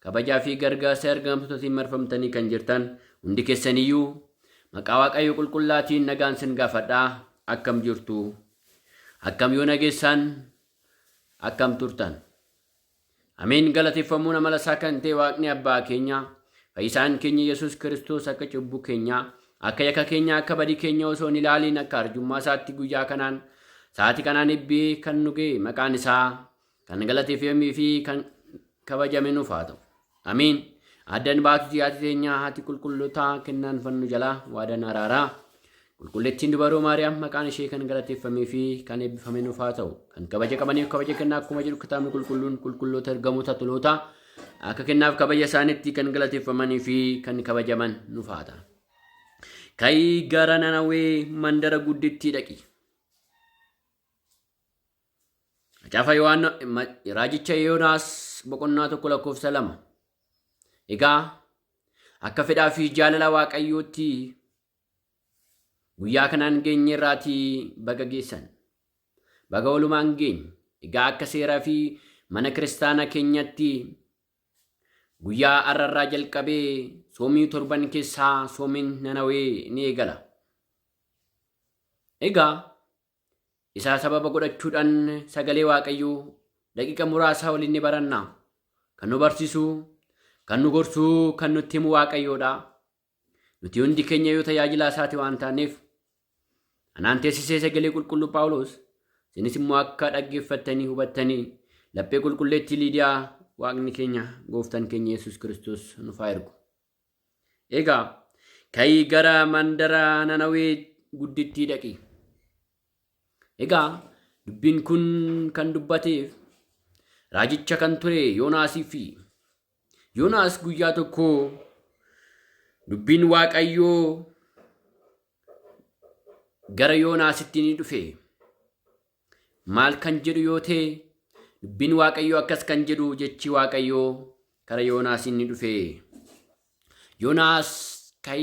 Kabajaa fi gargaarsa ergaamtotatiin marfamtanii kan jirtan hundi kessaniyyuu maqaa Waaqayyo qulqullaatiin nagaan sin gaafadha. Akkam jirtu? Akkam yoo nageessaan? Akkam turtan? Ameen galateeffamuun amala isaa kan ta'e Waaqni Abbaa keenya fayyisaan keenya Yesuus Kiristoos akka cubbuu keenya akka yakka keenya akka badii keenya osoo hin ilaaliin akka arjummaa isaatti guyyaa kanaan sa'aatii kanaan eebbee kan nu ga'e maqaan isaa Kan galatii fi emmii fi kan kabajame nuuf haa ta'u. Amiin. Addan baatuti haati teenyaa haati qulqullotaa kennaan fannu jalaa waadan araaraa. Qulqulleettiin dubaroo Maariyaam maqaan ishee kan galateeffamee fi kan eebbifame nuuf haa ta'u. Kan kabaja qabaniif kabaja kennaa akkuma jedhu kitaabni qulqulluun qulqulloota ergamoota toloota akka kennaaf kabaja isaaniitti kan galateeffamanii fi kan kabajaman nuuf haa ta'u. Ka'ii gara Nanawee mandara guddittii dhaqi. Macaafa Yohaanna ma- raajicha Yoonaas boqonnaa tokko lakkoofsa lama. Egaa akka fedhaa fi jaalala Waaqayyootti guyyaa kanaan geenye irraatii baga geessan. Baga walumaan geenye. Egaa akka seeraa fi mana kiristaana keenyatti guyyaa arrarraa jalqabee soomii torban keessaa soomiin nanawee ni eegala. Egaa Isaa sababa godhachuudhaan sagalee Waaqayyoo daqiiqa muraasaa waliin ni baranna. Kan nu barsiisu, kan nu gorsu, kan nutti himu Waaqayyoodha. Nuti hundi keenya yoo tajaajilaa isaati waan taaneef. Anaan teessisee sagalee qulqulluu Phaawulos isinis immoo akka dhaggeeffattanii hubattanii laphee qulqulleettii Liidiyaa Waaqni keenya gooftan keenya Yesuus Kiristoos nuuf haa ergu. Egaa ka'ii gara mandara Nanawee guddittii dhaqi. Egaa dubbiin kun kan dubbateef raajicha kan ture Yoonaasii fi Yoonaas guyyaa tokko dubbiin Waaqayyoo gara Yoonaasitti ni dhufe. Maal kan jedhu yoo ta'e, dubbiin Waaqayyoo akkas kan jedhu jechi Waaqayyoo kara Yoonaas inni dhufe. Yoonaas kai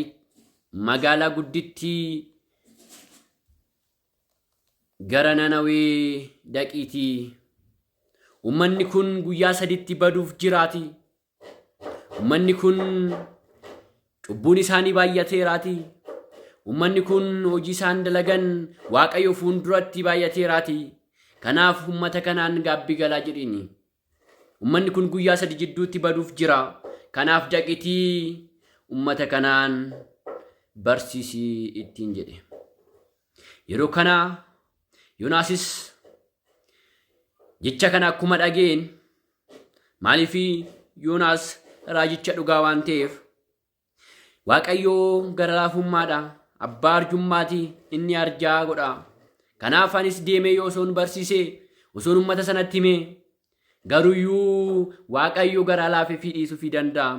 magaalaa guddittii gara Nanawee dhaqiitii Uummanni kun guyyaa saditti baduuf jiraati Ummanni kun cubbuun isaanii baay'ateeraati. Ummanni kun hojii isaan dalagan Waaqayyo fuulduratti baay'ateeraati. Kanaaf ummata kanaan gaabbii galaa jedhiini. Ummanni kun guyyaa sadi jidduutti baduuf jira. Kanaaf daqitii ummata kanaan barsiisii ittiin jedhe. Yeroo kana Yonaasis jecha kana akkuma dhageen maaliif Yoonaas raajicha dhugaa waan ta'eef Waaqayyoo gara laafummaadha abbaa arjummaati inni arjaa godha. Kanaaf anis deemee yoo osoon barsiise osoon uummata sanatti hime garuyyuu Waaqayyo garaa laafeefii dhiisuufii danda'a.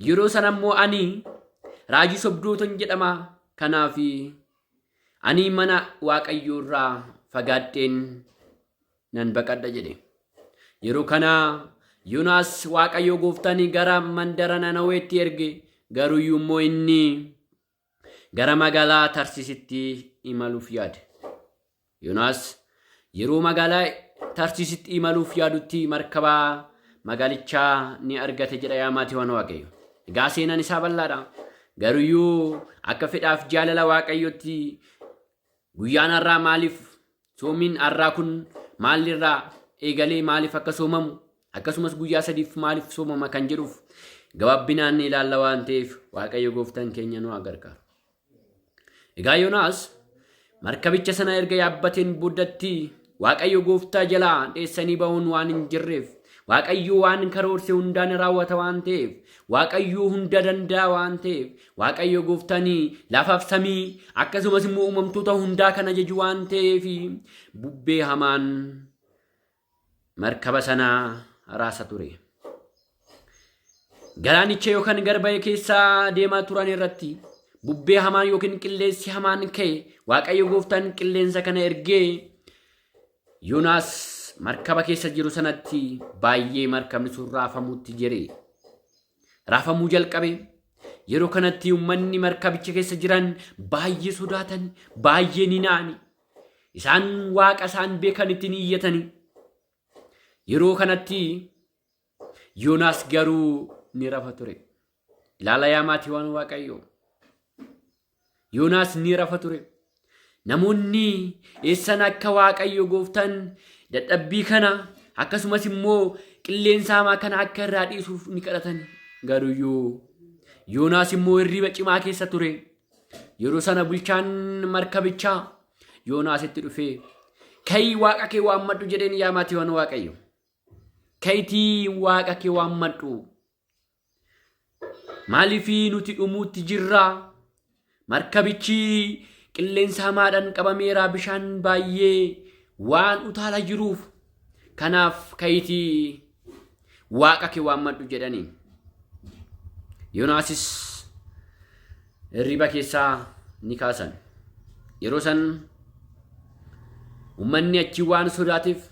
Yeroo sana immoo ani raajii sobdootan jedhama kanaafi. Ani mana Waaqayyoo irraa fagaadheen nan baqadha jedhe. Yeroo kana Yoonaas Waaqayyoo gooftaan gara mandara Nanaweetti erge garuyyuu immoo inni gara magaalaa Tarsiisitti imaluuf yaade. Yonaas yeroo magaalaa Tarsiisitti imaluuf yaadutti markaba magaalichaa ni argate jedha yaa maatiiwwan Waaqayyo. Egaa seenaan isaa bal'aadha. Garuyyuu akka fedhaaf jaalala Waaqayyootti guyyaan har'aa maaliif soomiin har'aa kun maalirraa eegalee maaliif akka soomamu akkasumas guyyaa sadiif maaliif soomama kan jedhuuf gabaabbinaan ni ilaalla waan ta'eef Waaqayyo gooftaan keenya nu haa gargaaru. Egaa Yoonaas markabicha sana erga yaabbateen booddatti Waaqayyo gooftaa jalaa dheessanii ba'uun waan hin jirreef Waaqayyo waan karoorse hundaan raawwata waan ta'eef Waaqayyo hunda danda'a waan ta'eef Waaqayyo gooftaan lafaaf samii akkasumas immoo uumamtoota hundaa kan ajaju waan ta'eef bubbee hamaan markaba sana raasa ture. Galaanicha yookaan garba'ee keessa deemaa turan irratti bubbee hamaan yookiin qilleensi hamaan ka'e Waaqayyo gooftaan qilleensa kana ergee Yoonaas markaba keessa jiru sanatti baay'ee markabni sun raafamuutti jire. Raafamuu jalqabe. Yeroo kanatti uummanni markabicha keessa jiran baay'ee sodaatan, baay'ee ni na'ani. Isaan waaqa isaan beekanitti ni iyyatanii. Yeroo kanatti Yoonaas garuu ni rafa ture. Ilaala yaa maatiiwwan Waaqayyoo. Yoonaas ni rafa ture. Namoonni eessan akka Waaqayyo gooftaan dadhabbii kana akkasumas immoo qilleensa hamaa kana akka irraa dhiisuuf ni kadhatan. Garuyyuu Yoonaas immoo hirriba cimaa keessa ture. Yeroo sana bulchaan markabichaa Yoonaasitti dhufee ka'ii waaqa kee waammadhu jedheen yaa maatiiwwan waaqayyo. Ka'itii waaqa kee waammadhu. Maaliif nuti dhumuutti jirraa? Markabichi qilleensa hamaadhaan qabameera bishaan baay'ee waan utaala jiruuf. Kanaaf ka'itii Waaqa kee waammadhu jedhaniin. Yoonaasis hirriba keessaa ni kaasan. Yeroo san uummanni achi waan sodaatiif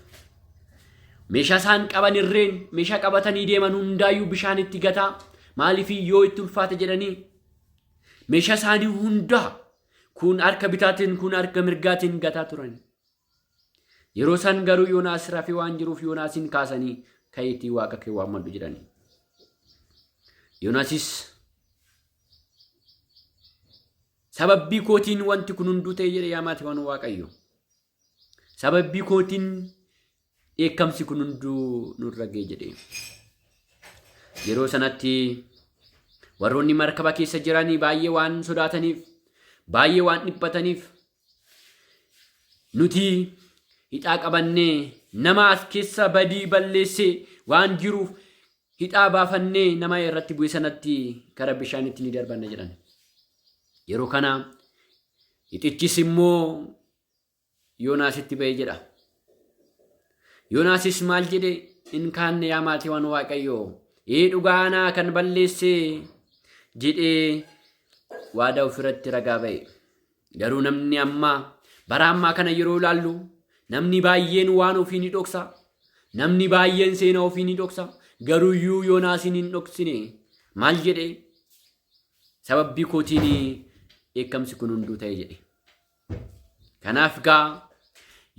meeshaa isaan qaban irreen meeshaa qabatanii deeman hundaayyuu bishaan itti gataa maaliif yoo itti ulfaate jedhanii meeshaa isaanii hundaa kun harka bitaatiin kun harka mirgaatiin gataa turan. Yeroo san garuu Yoonaas rafee waan jiruuf Yoonaasiin kaasanii ka'iitii waaqa kee waammadhu jedhanii. Yoonaasis sababbii kootiin wanti kun hunduu ta'e jedhe yaa maatiiwwan waaqayyo. Sababbii kootiin dheekkamsi kun hunduu nurra ga'e jedhe. Yeroo sanatti warroonni markaba keessa jiranii baay'ee waan sodaataniif baay'ee waan dhiphataniif Nuti hidhaa qabannee nama as keessa badii balleessee waan jiruuf hidhaa baafannee nama irratti bu'e sanatti gara bishaanitti ni darbanna jedhan. Yeroo kana hixichis immoo Yoonaasitti ba'e jedha. Yoonaasis maal jedhe in kaanne yaa maatiiwwan waaqayyoo ee dhugaa anaa kan balleessee jedhee waadaa ofirratti ragaa ba'e. Garuu namni ammaa bara ammaa kana yeroo ilaallu namni baay'een waan ofii ni dhoksa. Namni baay'een seenaa ofii ni dhoksa. Garuu iyyuu Yoonaasiin hin dhoksine. Maal jedhe? Sababbii kootiin dheekkamsi kun hunduu ta'e jedhe. Kanaaf gaa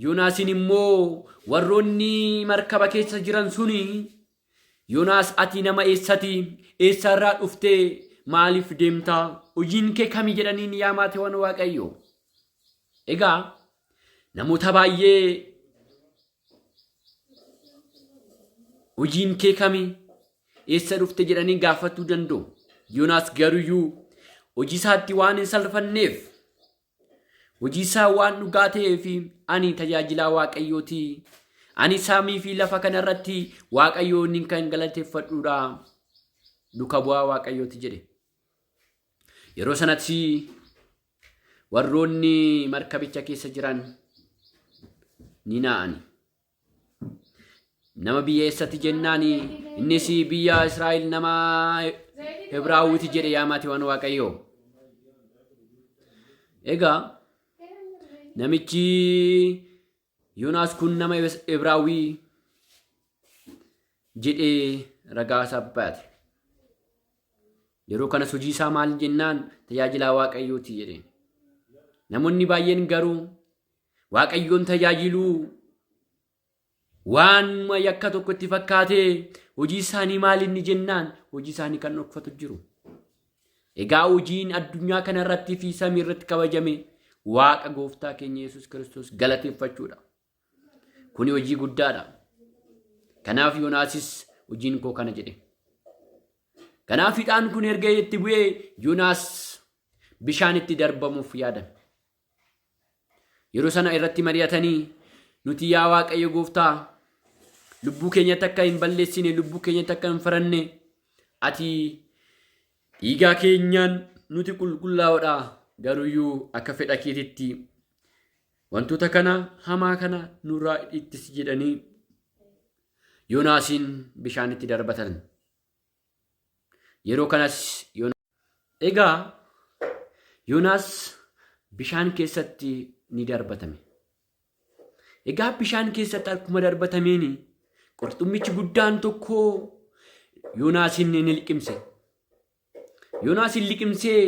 Yoonaasiin immoo warroonni markaba keessa jiran suni Yonaas atii nama eessati? Eessaa irraa dhuftee? Maaliif deemtaa? Hojiin kee kami jedhaniin yaa maatiiwwan Waaqayyo. Egaa namoota baay'ee hojiin kee kami? Eessa dhufte jedhanii gaafachuu danda'u. Yonaas garuyyuu hojii isaatti waan hin salfanneef Hojii isaa waan dhugaa ta'eef ani tajaajilaa Waaqayyooti. Ani saamii fi lafa kana irratti Waaqayyoon kan galateeffadhuudha. Duka bu'aa Waaqayyooti jedhe. Yeroo sanatti warroonni markabicha keessa jiran ni naa'ani. Nama biyya eessati jennaani innis biyya Israa'el nama Hebraawwiti jedhe yaa maatiiwwan Waaqayyoo. Egaa namichi Yoonaas kun nama Hebraawwii jedhee ragaa isaa baate. Yeroo kanas hojii isaa maal jennaan tajaajilaa Waaqayyooti jedhe. Namoonni baay'een garuu Waaqayyoon tajaajiluu waanuma yakka tokko itti fakkaatee hojii isaanii maal inni jennaan hojii isaanii kan dhokfatu jiru. Egaa hojiin addunyaa kana irratti fi samii irratti kabajame waaqa gooftaa keenya Yesuus Kiristoos galateeffachuudha. Kuni hojii guddaadha. Kanaaf Yoonaasis hojiin koo kana jedhe. Kanaaf hidhaan kun erga itti bu'ee Yoonaas bishaan itti darbamuuf yaadame. Yeroo sana irratti mari'atanii nuti yaa Waaqayyo gooftaa lubbuu keenyatti akka hin balleessine lubbuu keenyatti akka hin faranne ati dhiigaa keenyaan nuti qulqullaa'oodha garuyyuu akka fedha keetitti wantoota kana hamaa kana nurraa ittisi jedhanii Yoonaasiin bishaanitti darbatan. Yeroo kanas Egaa Yoonaas bishaan keessatti ni darbatame. Egaa bishaan keessatti akkuma darbatameen qurxummichi guddaan tokko Yoonaasiin ni liqimse. Yoonaasiin liqimsee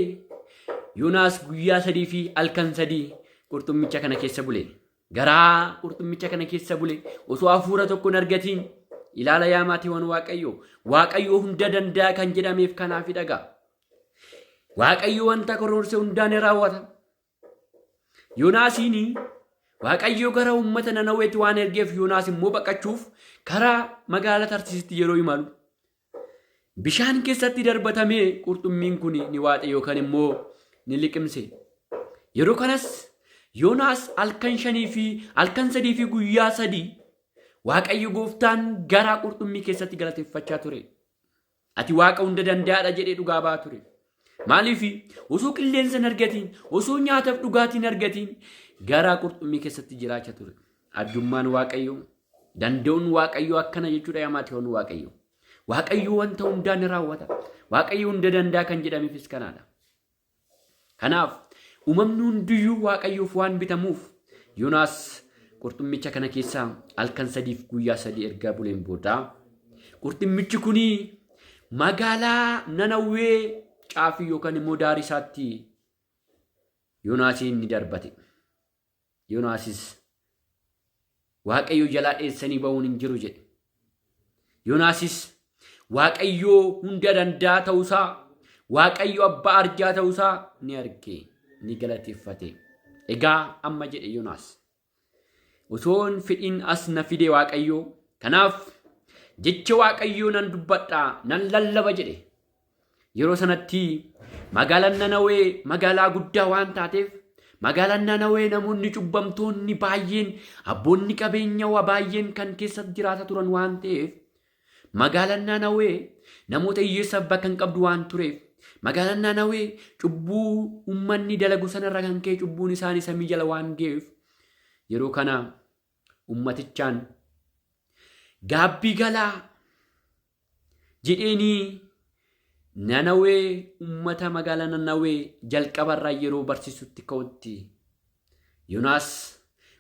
Yoonaas guyyaa sadii fi halkan sadii qurxummicha kana keessa bule. Garaa qurxummicha kana keessa bule osoo hafuura tokko hin argatiin ilaala yaa maatiiwwan Waaqayyoo. Waaqayyoo hunda danda'a kan jedhameef kanaafi dhagaa. Waaqayyo wanta karoorse hundaa ni raawwata. Yoonaasiin Waaqayyo gara uummata Nanaweetti waan ergeef Yoonaas immoo baqachuuf karaa magaalaa Tarsiisitti yeroo imalu Bishaan keessatti darbatamee qurxummiin kun ni waaxe yookaan immoo ni liqimse. Yeroo kanas Yoonaas halkan shanii fi halkan sadii fi guyyaa sadii Waaqayyo gooftaan garaa qurxummii keessatti galateeffachaa ture. Ati Waaqa hunda danda'aadha jedhee dhugaa ba'aa ture. Maaliif osoo qilleensa hin argatiin, osoo nyaataaf dhugaatii hin argatiin garaa qurxummii keessatti jiraacha ture. Addummaan Waaqayyoo, danda'uun Waaqayyoo akkana jechuudha yaa maatiiwwan Waaqayyoo. Waaqayyoo wanta hundaa ni raawwata. Waaqayyoo hunda danda'a kan jedhameefis kanaadha. Kanaaf uumamni hundiyyuu Waaqayyoof waan bitamuuf Yoonaas qurxummicha kana keessaa halkan sadiif guyyaa sadii erga buleen booda qurxummichi kuni Magaalaa Nanawwee caafii yookaan immoo daarii isaatti Yoonaasiin ni darbate. Yoonaasis Waaqayyo jalaa dheessanii ba'uun hin jiru jedhe. Yoonaasis Waaqayyo hunda danda'a ta'uusaa, Waaqayyo abbaa arjaa ta'uusaa ni arge, ni galateeffate. Egaa amma jedhe Yoonaas. Utoon fedhin as na fide Waaqayyo. Kanaaf jecha Waaqayyoo nan dubbadha, nan lallaba jedhe. Yeroo sanatti magaalaan Nanawee magaalaa guddaa waan taateef magaalaan Nanawee namoonni cubbamtoonni baay'een abboonni qabeenya waa baay'een kan keessa jiraata turan waan ta'eef Magaalaan Naanawee namoota hiyyeessaaf bakka hin qabdu waan tureef, magaalaan Naanawee cubbuu ummanni dalagu sanarra kan ka'e cubbuun isaanii samii jala waan ga'eef, yeroo kana ummatichaan gaabbii galaa jedheenii Nanawee ummata magaalaa Nanawee jalqabarraa yeroo barsiisutti ka'utti Yonaas,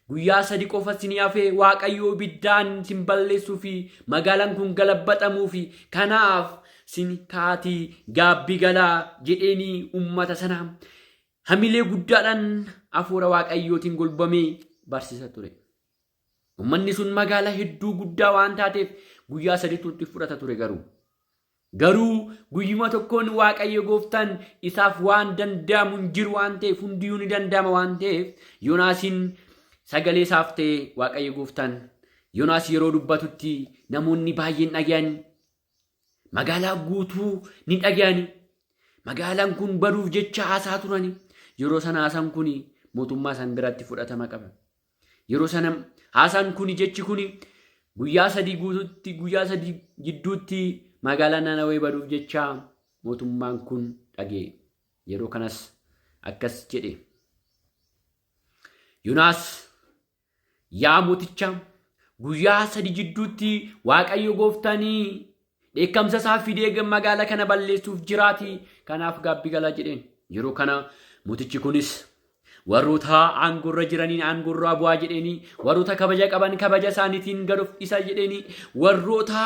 Guyyaa sadi qofa isin hafe, Waaqayyo ibiddaan isin balleessuu fi magaalaan kun galabbaxamuufi, kanaaf isin ka'aatii gaabbii galaa jedheenii uummata sana hamilee guddaadhaan hafuura Waaqayyootiin golbamee barsiisa ture. Uummanni sun magaalaa hedduu guddaa waan taateef guyyaa saditu itti fudhata ture garuu. Garuu guyyuma tokkoon Waaqayyo gooftaan isaaf waan danda'amu hin jiru waan ta'eef hundiyuu ni danda'ama waan ta'eef Yoonaasiin sagalee isaaf ta'e Waaqayyo gooftaan Yoonaas yeroo dubbatutti namoonni baay'een dhaga'an magaalaa guutuu ni dhaga'an magaalaan kun baduuf jecha haasaa turani yeroo sana haasaan kun mootummaa isaan biratti fudhatama qaba. Yeroo sana haasaan kuni jechi kuni guyyaa sadii guutuutti guyyaa sadii gidduutti magaalaa Nanawee baduuf jecha mootummaan kun dhagee. Yeroo kanas akkas jedhe. Yonaas yaa mooticha guyyaa sadii jidduutti Waaqayyo gooftaanii Dheekkamsa isaa fidee magaala kana balleessuuf jiraati, kanaaf gaabbi galaa jedheen. Yeroo kana mootichi kunis warroota aangorra jiraniin aangorraa bu'aa jedheeni, warroota kabaja qaban kabaja isaaniitiin gad of dhiisa jedheeni, warroota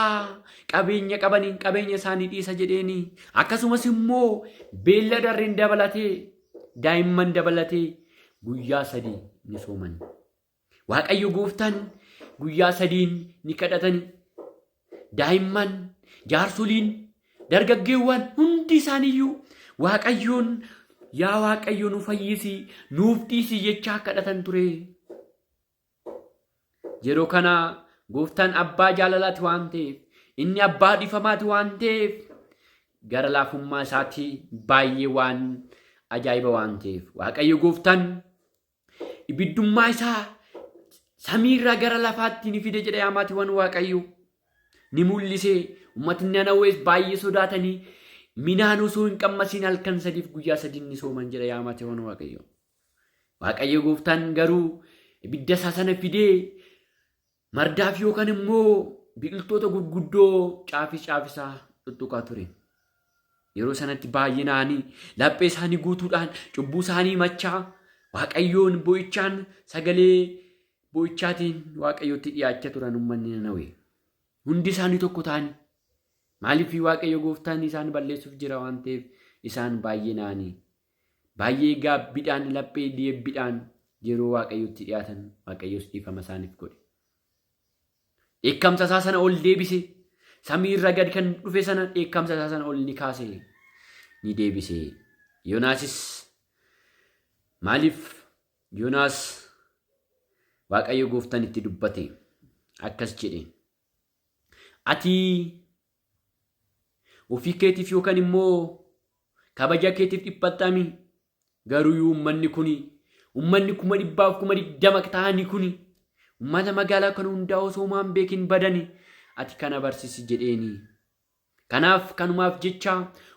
qabeenya qabaniin qabeenya isaanii dhiisa jedheeni. Akkasumas immoo beellada harreen dabalatee daa'imman dabalatee guyyaa sadii ni sooman. Waaqayyo gooftaan guyyaa sadiin ni kadhatani. Daa'imman, jaarsoliin, dargaggeewwan hundi isaaniiyyuu Waaqayyoon yaa Waaqayyo nu fayyisi, nuuf dhiisi jechaa kadhatan ture. Yeroo kana gooftaan abbaa jaalalaati waan ta'eef, inni abbaa dhifamaati waan ta'eef, gara laafummaa isaatii baay'ee waan ajaa'iba waan ta'eef. Waaqayyo gooftaan Ibiddummaa isaa samiirraa gara lafaatti ni fide jedha yaa maatiiwwan Waaqayyoo. Ni mul'ise. Uummatni Nanawees baay'ee sodaatanii minaan osoo hin qammasiin halkan sadiif guyyaa sadiin ni sooman jedha yaa maatiiwwan Waaqayyoo. Waaqayyo gooftaan garuu ibidda isaa sana fidee Mardaaf yookaan immoo biqiltoota gurguddoo caafis caafisaa tuttuqaa ture. Yeroo sanatti baay'inaan laphee isaanii guutuudhaan cubbuu isaanii machaa waaqayyoon boo'ichaan sagalee boo'ichaatiin waaqayyootti dhiyaachaa turan uummanni Nanawee. Hundi isaanii tokko ta'anii maaliif waaqayyo gooftaan isaan balleessuuf jira waan ta'eef isaan baay'inaan Baay'ee gaabbidhaan laphee deebbidhaan yeroo Waaqayyotti dhiyaatan Waaqayyos dhiifama isaaniif godhe. Dheekkamsa isaa sana ol deebise. Samii irra gad kan dhufe sana dheekkamsa isaa sana ol ni kaase. Ni deebise. Yoonaasis maaliif Yoonaas Waaqayyo gooftan itti dubbate akkas jedhe. Ati Ofii keetiif yookaan immoo kabaja keetiif dhiphattaa mii? Garuu yoo ummanni kuni ummanni kuma dhibbaaf kuma digdama ta'anii kuni ummata magaalaa kana hundaa osoo maan beekin badani ati kana barsisi jedheeni. Kanaaf kanumaaf jecha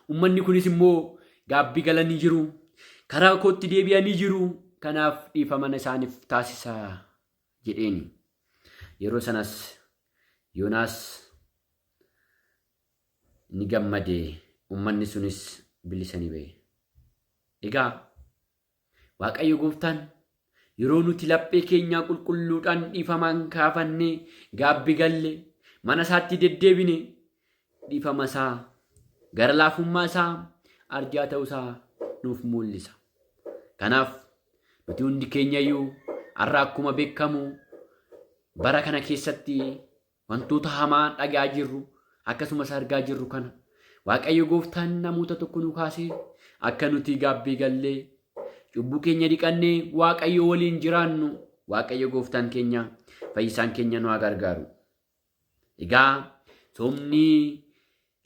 ummanni kunis immoo gaabbi galanii jiru. Karaa kootti deebi'anii jiru. Kanaaf dhiifamana isaaniif taasisa. jedheeni. Yeroo sanas Yoonaas ni gammade, ummanni sunis bilisa ni ba'e. Egaa Waaqayyo gooftaan yeroo nuti laphee keenyaa qulqulluudhaan dhiifamaan kaafannee gaabbi galle mana isaatti deddeebine dhifama isaa, gara laafummaa isaa, arjaa ta'uu isaa nuuf mul'isa. Kanaaf nuti hundi keenyayyuu har'a akkuma beekamu bara kana keessatti wantoota hamaa dhagaa jirru akkasumas argaa jirru kana Waaqayyo gooftaan namoota tokko nu kaasee akka nuti gaabbii gallee cubbuu keenya dhiqannee Waaqayyo waliin jiraannu Waaqayyo gooftaan keenya fayyisaan keenya nu haa gargaaru. Egaa soomni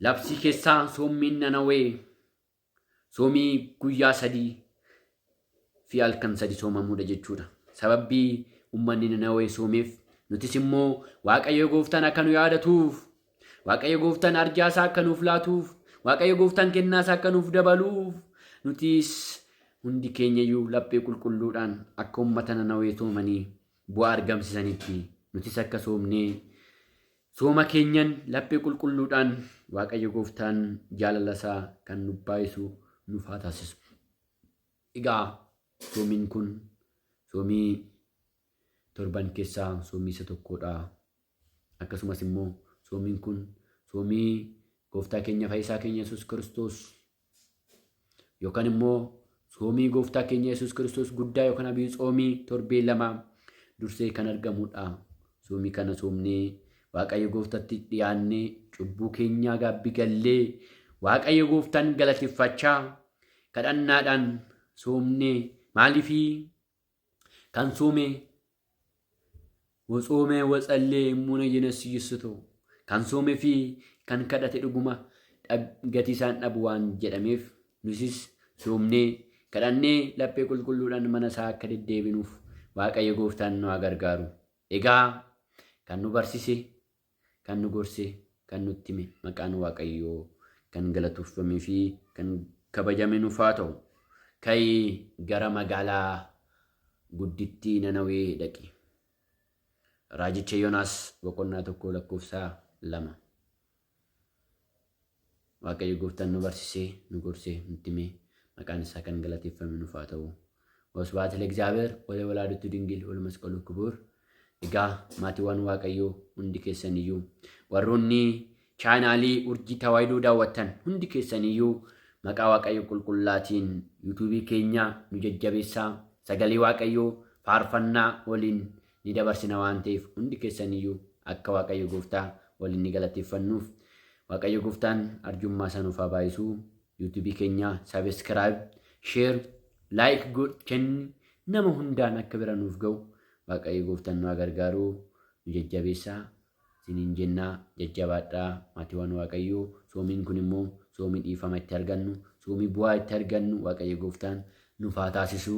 labsii keessaa soommiin nanawee soomii guyyaa sadii fi halkan sadi soomamuudha jechuudha. Sababbii ummanni nanawee soomeef nutis immoo Waaqayyo gooftaan akka nu yaadatuuf Waaqayyo gooftaan arjaa isaa akka nuuf laatuuf Waaqayyo gooftaan kennaa isaa akka nuuf dabaluuf nutis hundi keenyayyuu laphee qulqulluudhaan akka ummata nanawee soomanii bu'aa argamsiisanitti nutis akka soomnee sooma keenyan laphee qulqulluudhaan Waaqayyo gooftaan jaalala isaa kan nu baay'isu nuuf haa taasisu. Egaa soomiin kun soomii torban keessaa soomii isa tokkodha. Akkasumas immoo soomiin kun soomii gooftaa keenya fayyisaa keenya Yesuus Kiristoos yookaan immoo soomii gooftaa keenya Yesuus Kiristoos guddaa yookaan abiyu tsoomii torbee lama dursee kan argamudha. Soomii kana soomnee Waaqayyo gooftatti dhiyaannee cubbuu keenyaa gaabbi gallee Waaqayyo gooftaan galateeffachaa kadhannaadhaan soomnee maaliifii Kan soomee Watsoomee watsallee immoo nayyina siyyissutu kan soomee fi kan kadhate dhuguma gatii isaan dhabu waan jedhameef nusis soomnee kadhannee laphee qulqulluudhaan mana isaa akka deddeebinuuf waaqayyo gooftaan nu haa gargaaru. Egaa kan nu barsise Kan nu gorse, kan nutti hime maqaan Waaqayyoo kan galatoofamee fi kan kabajame nuuf haa ta'u. Ka'ii gara magaalaa guddittii Nanawee dhaqi. Raajicha Yoonaas boqonnaa tokko lakkoofsa lama. Waaqayyo gooftaan nu barsisee, nu gorsee, nutti himee, maqaan isaa kan galateeffame nuuf haa ta'u. Wasbaat Legzaabeer, Wale Walaadutu Dingil, Wale Masqalu Kibuur. Egaa maatiiwwan Waaqayyoo hundi keessaniyyuu, warroonni chaanaalii urjii tawaayidoo daawwattan hundi keessaniyyuu maqaa Waaqayyo qulqullaatiin yuutuubii keenya nu jajjabeessaa, sagalee Waaqayyoo faarfannaa waliin ni dabarsina waan ta'eef hundi keessaniyyuu akka Waaqayyo Gooftaa waliin ni galateeffannuuf. Waaqayyo Gooftaan arjummaa isaa nuuf haa baay'isu. YouTube keenya subscribe, share, like godhi kenni nama hundaan akka bira nuuf ga'u Waaqayyo Gooftaan nu haa gargaaru nu jajjabeessaa. Isiniin jennaa jajjabaadhaa maatiiwwan Waaqayyoo soomiin kun immoo soomii dhiifama itti argannu soomii bu'aa itti argannu Waaqayyo Gooftaan nuuf haa taasisu.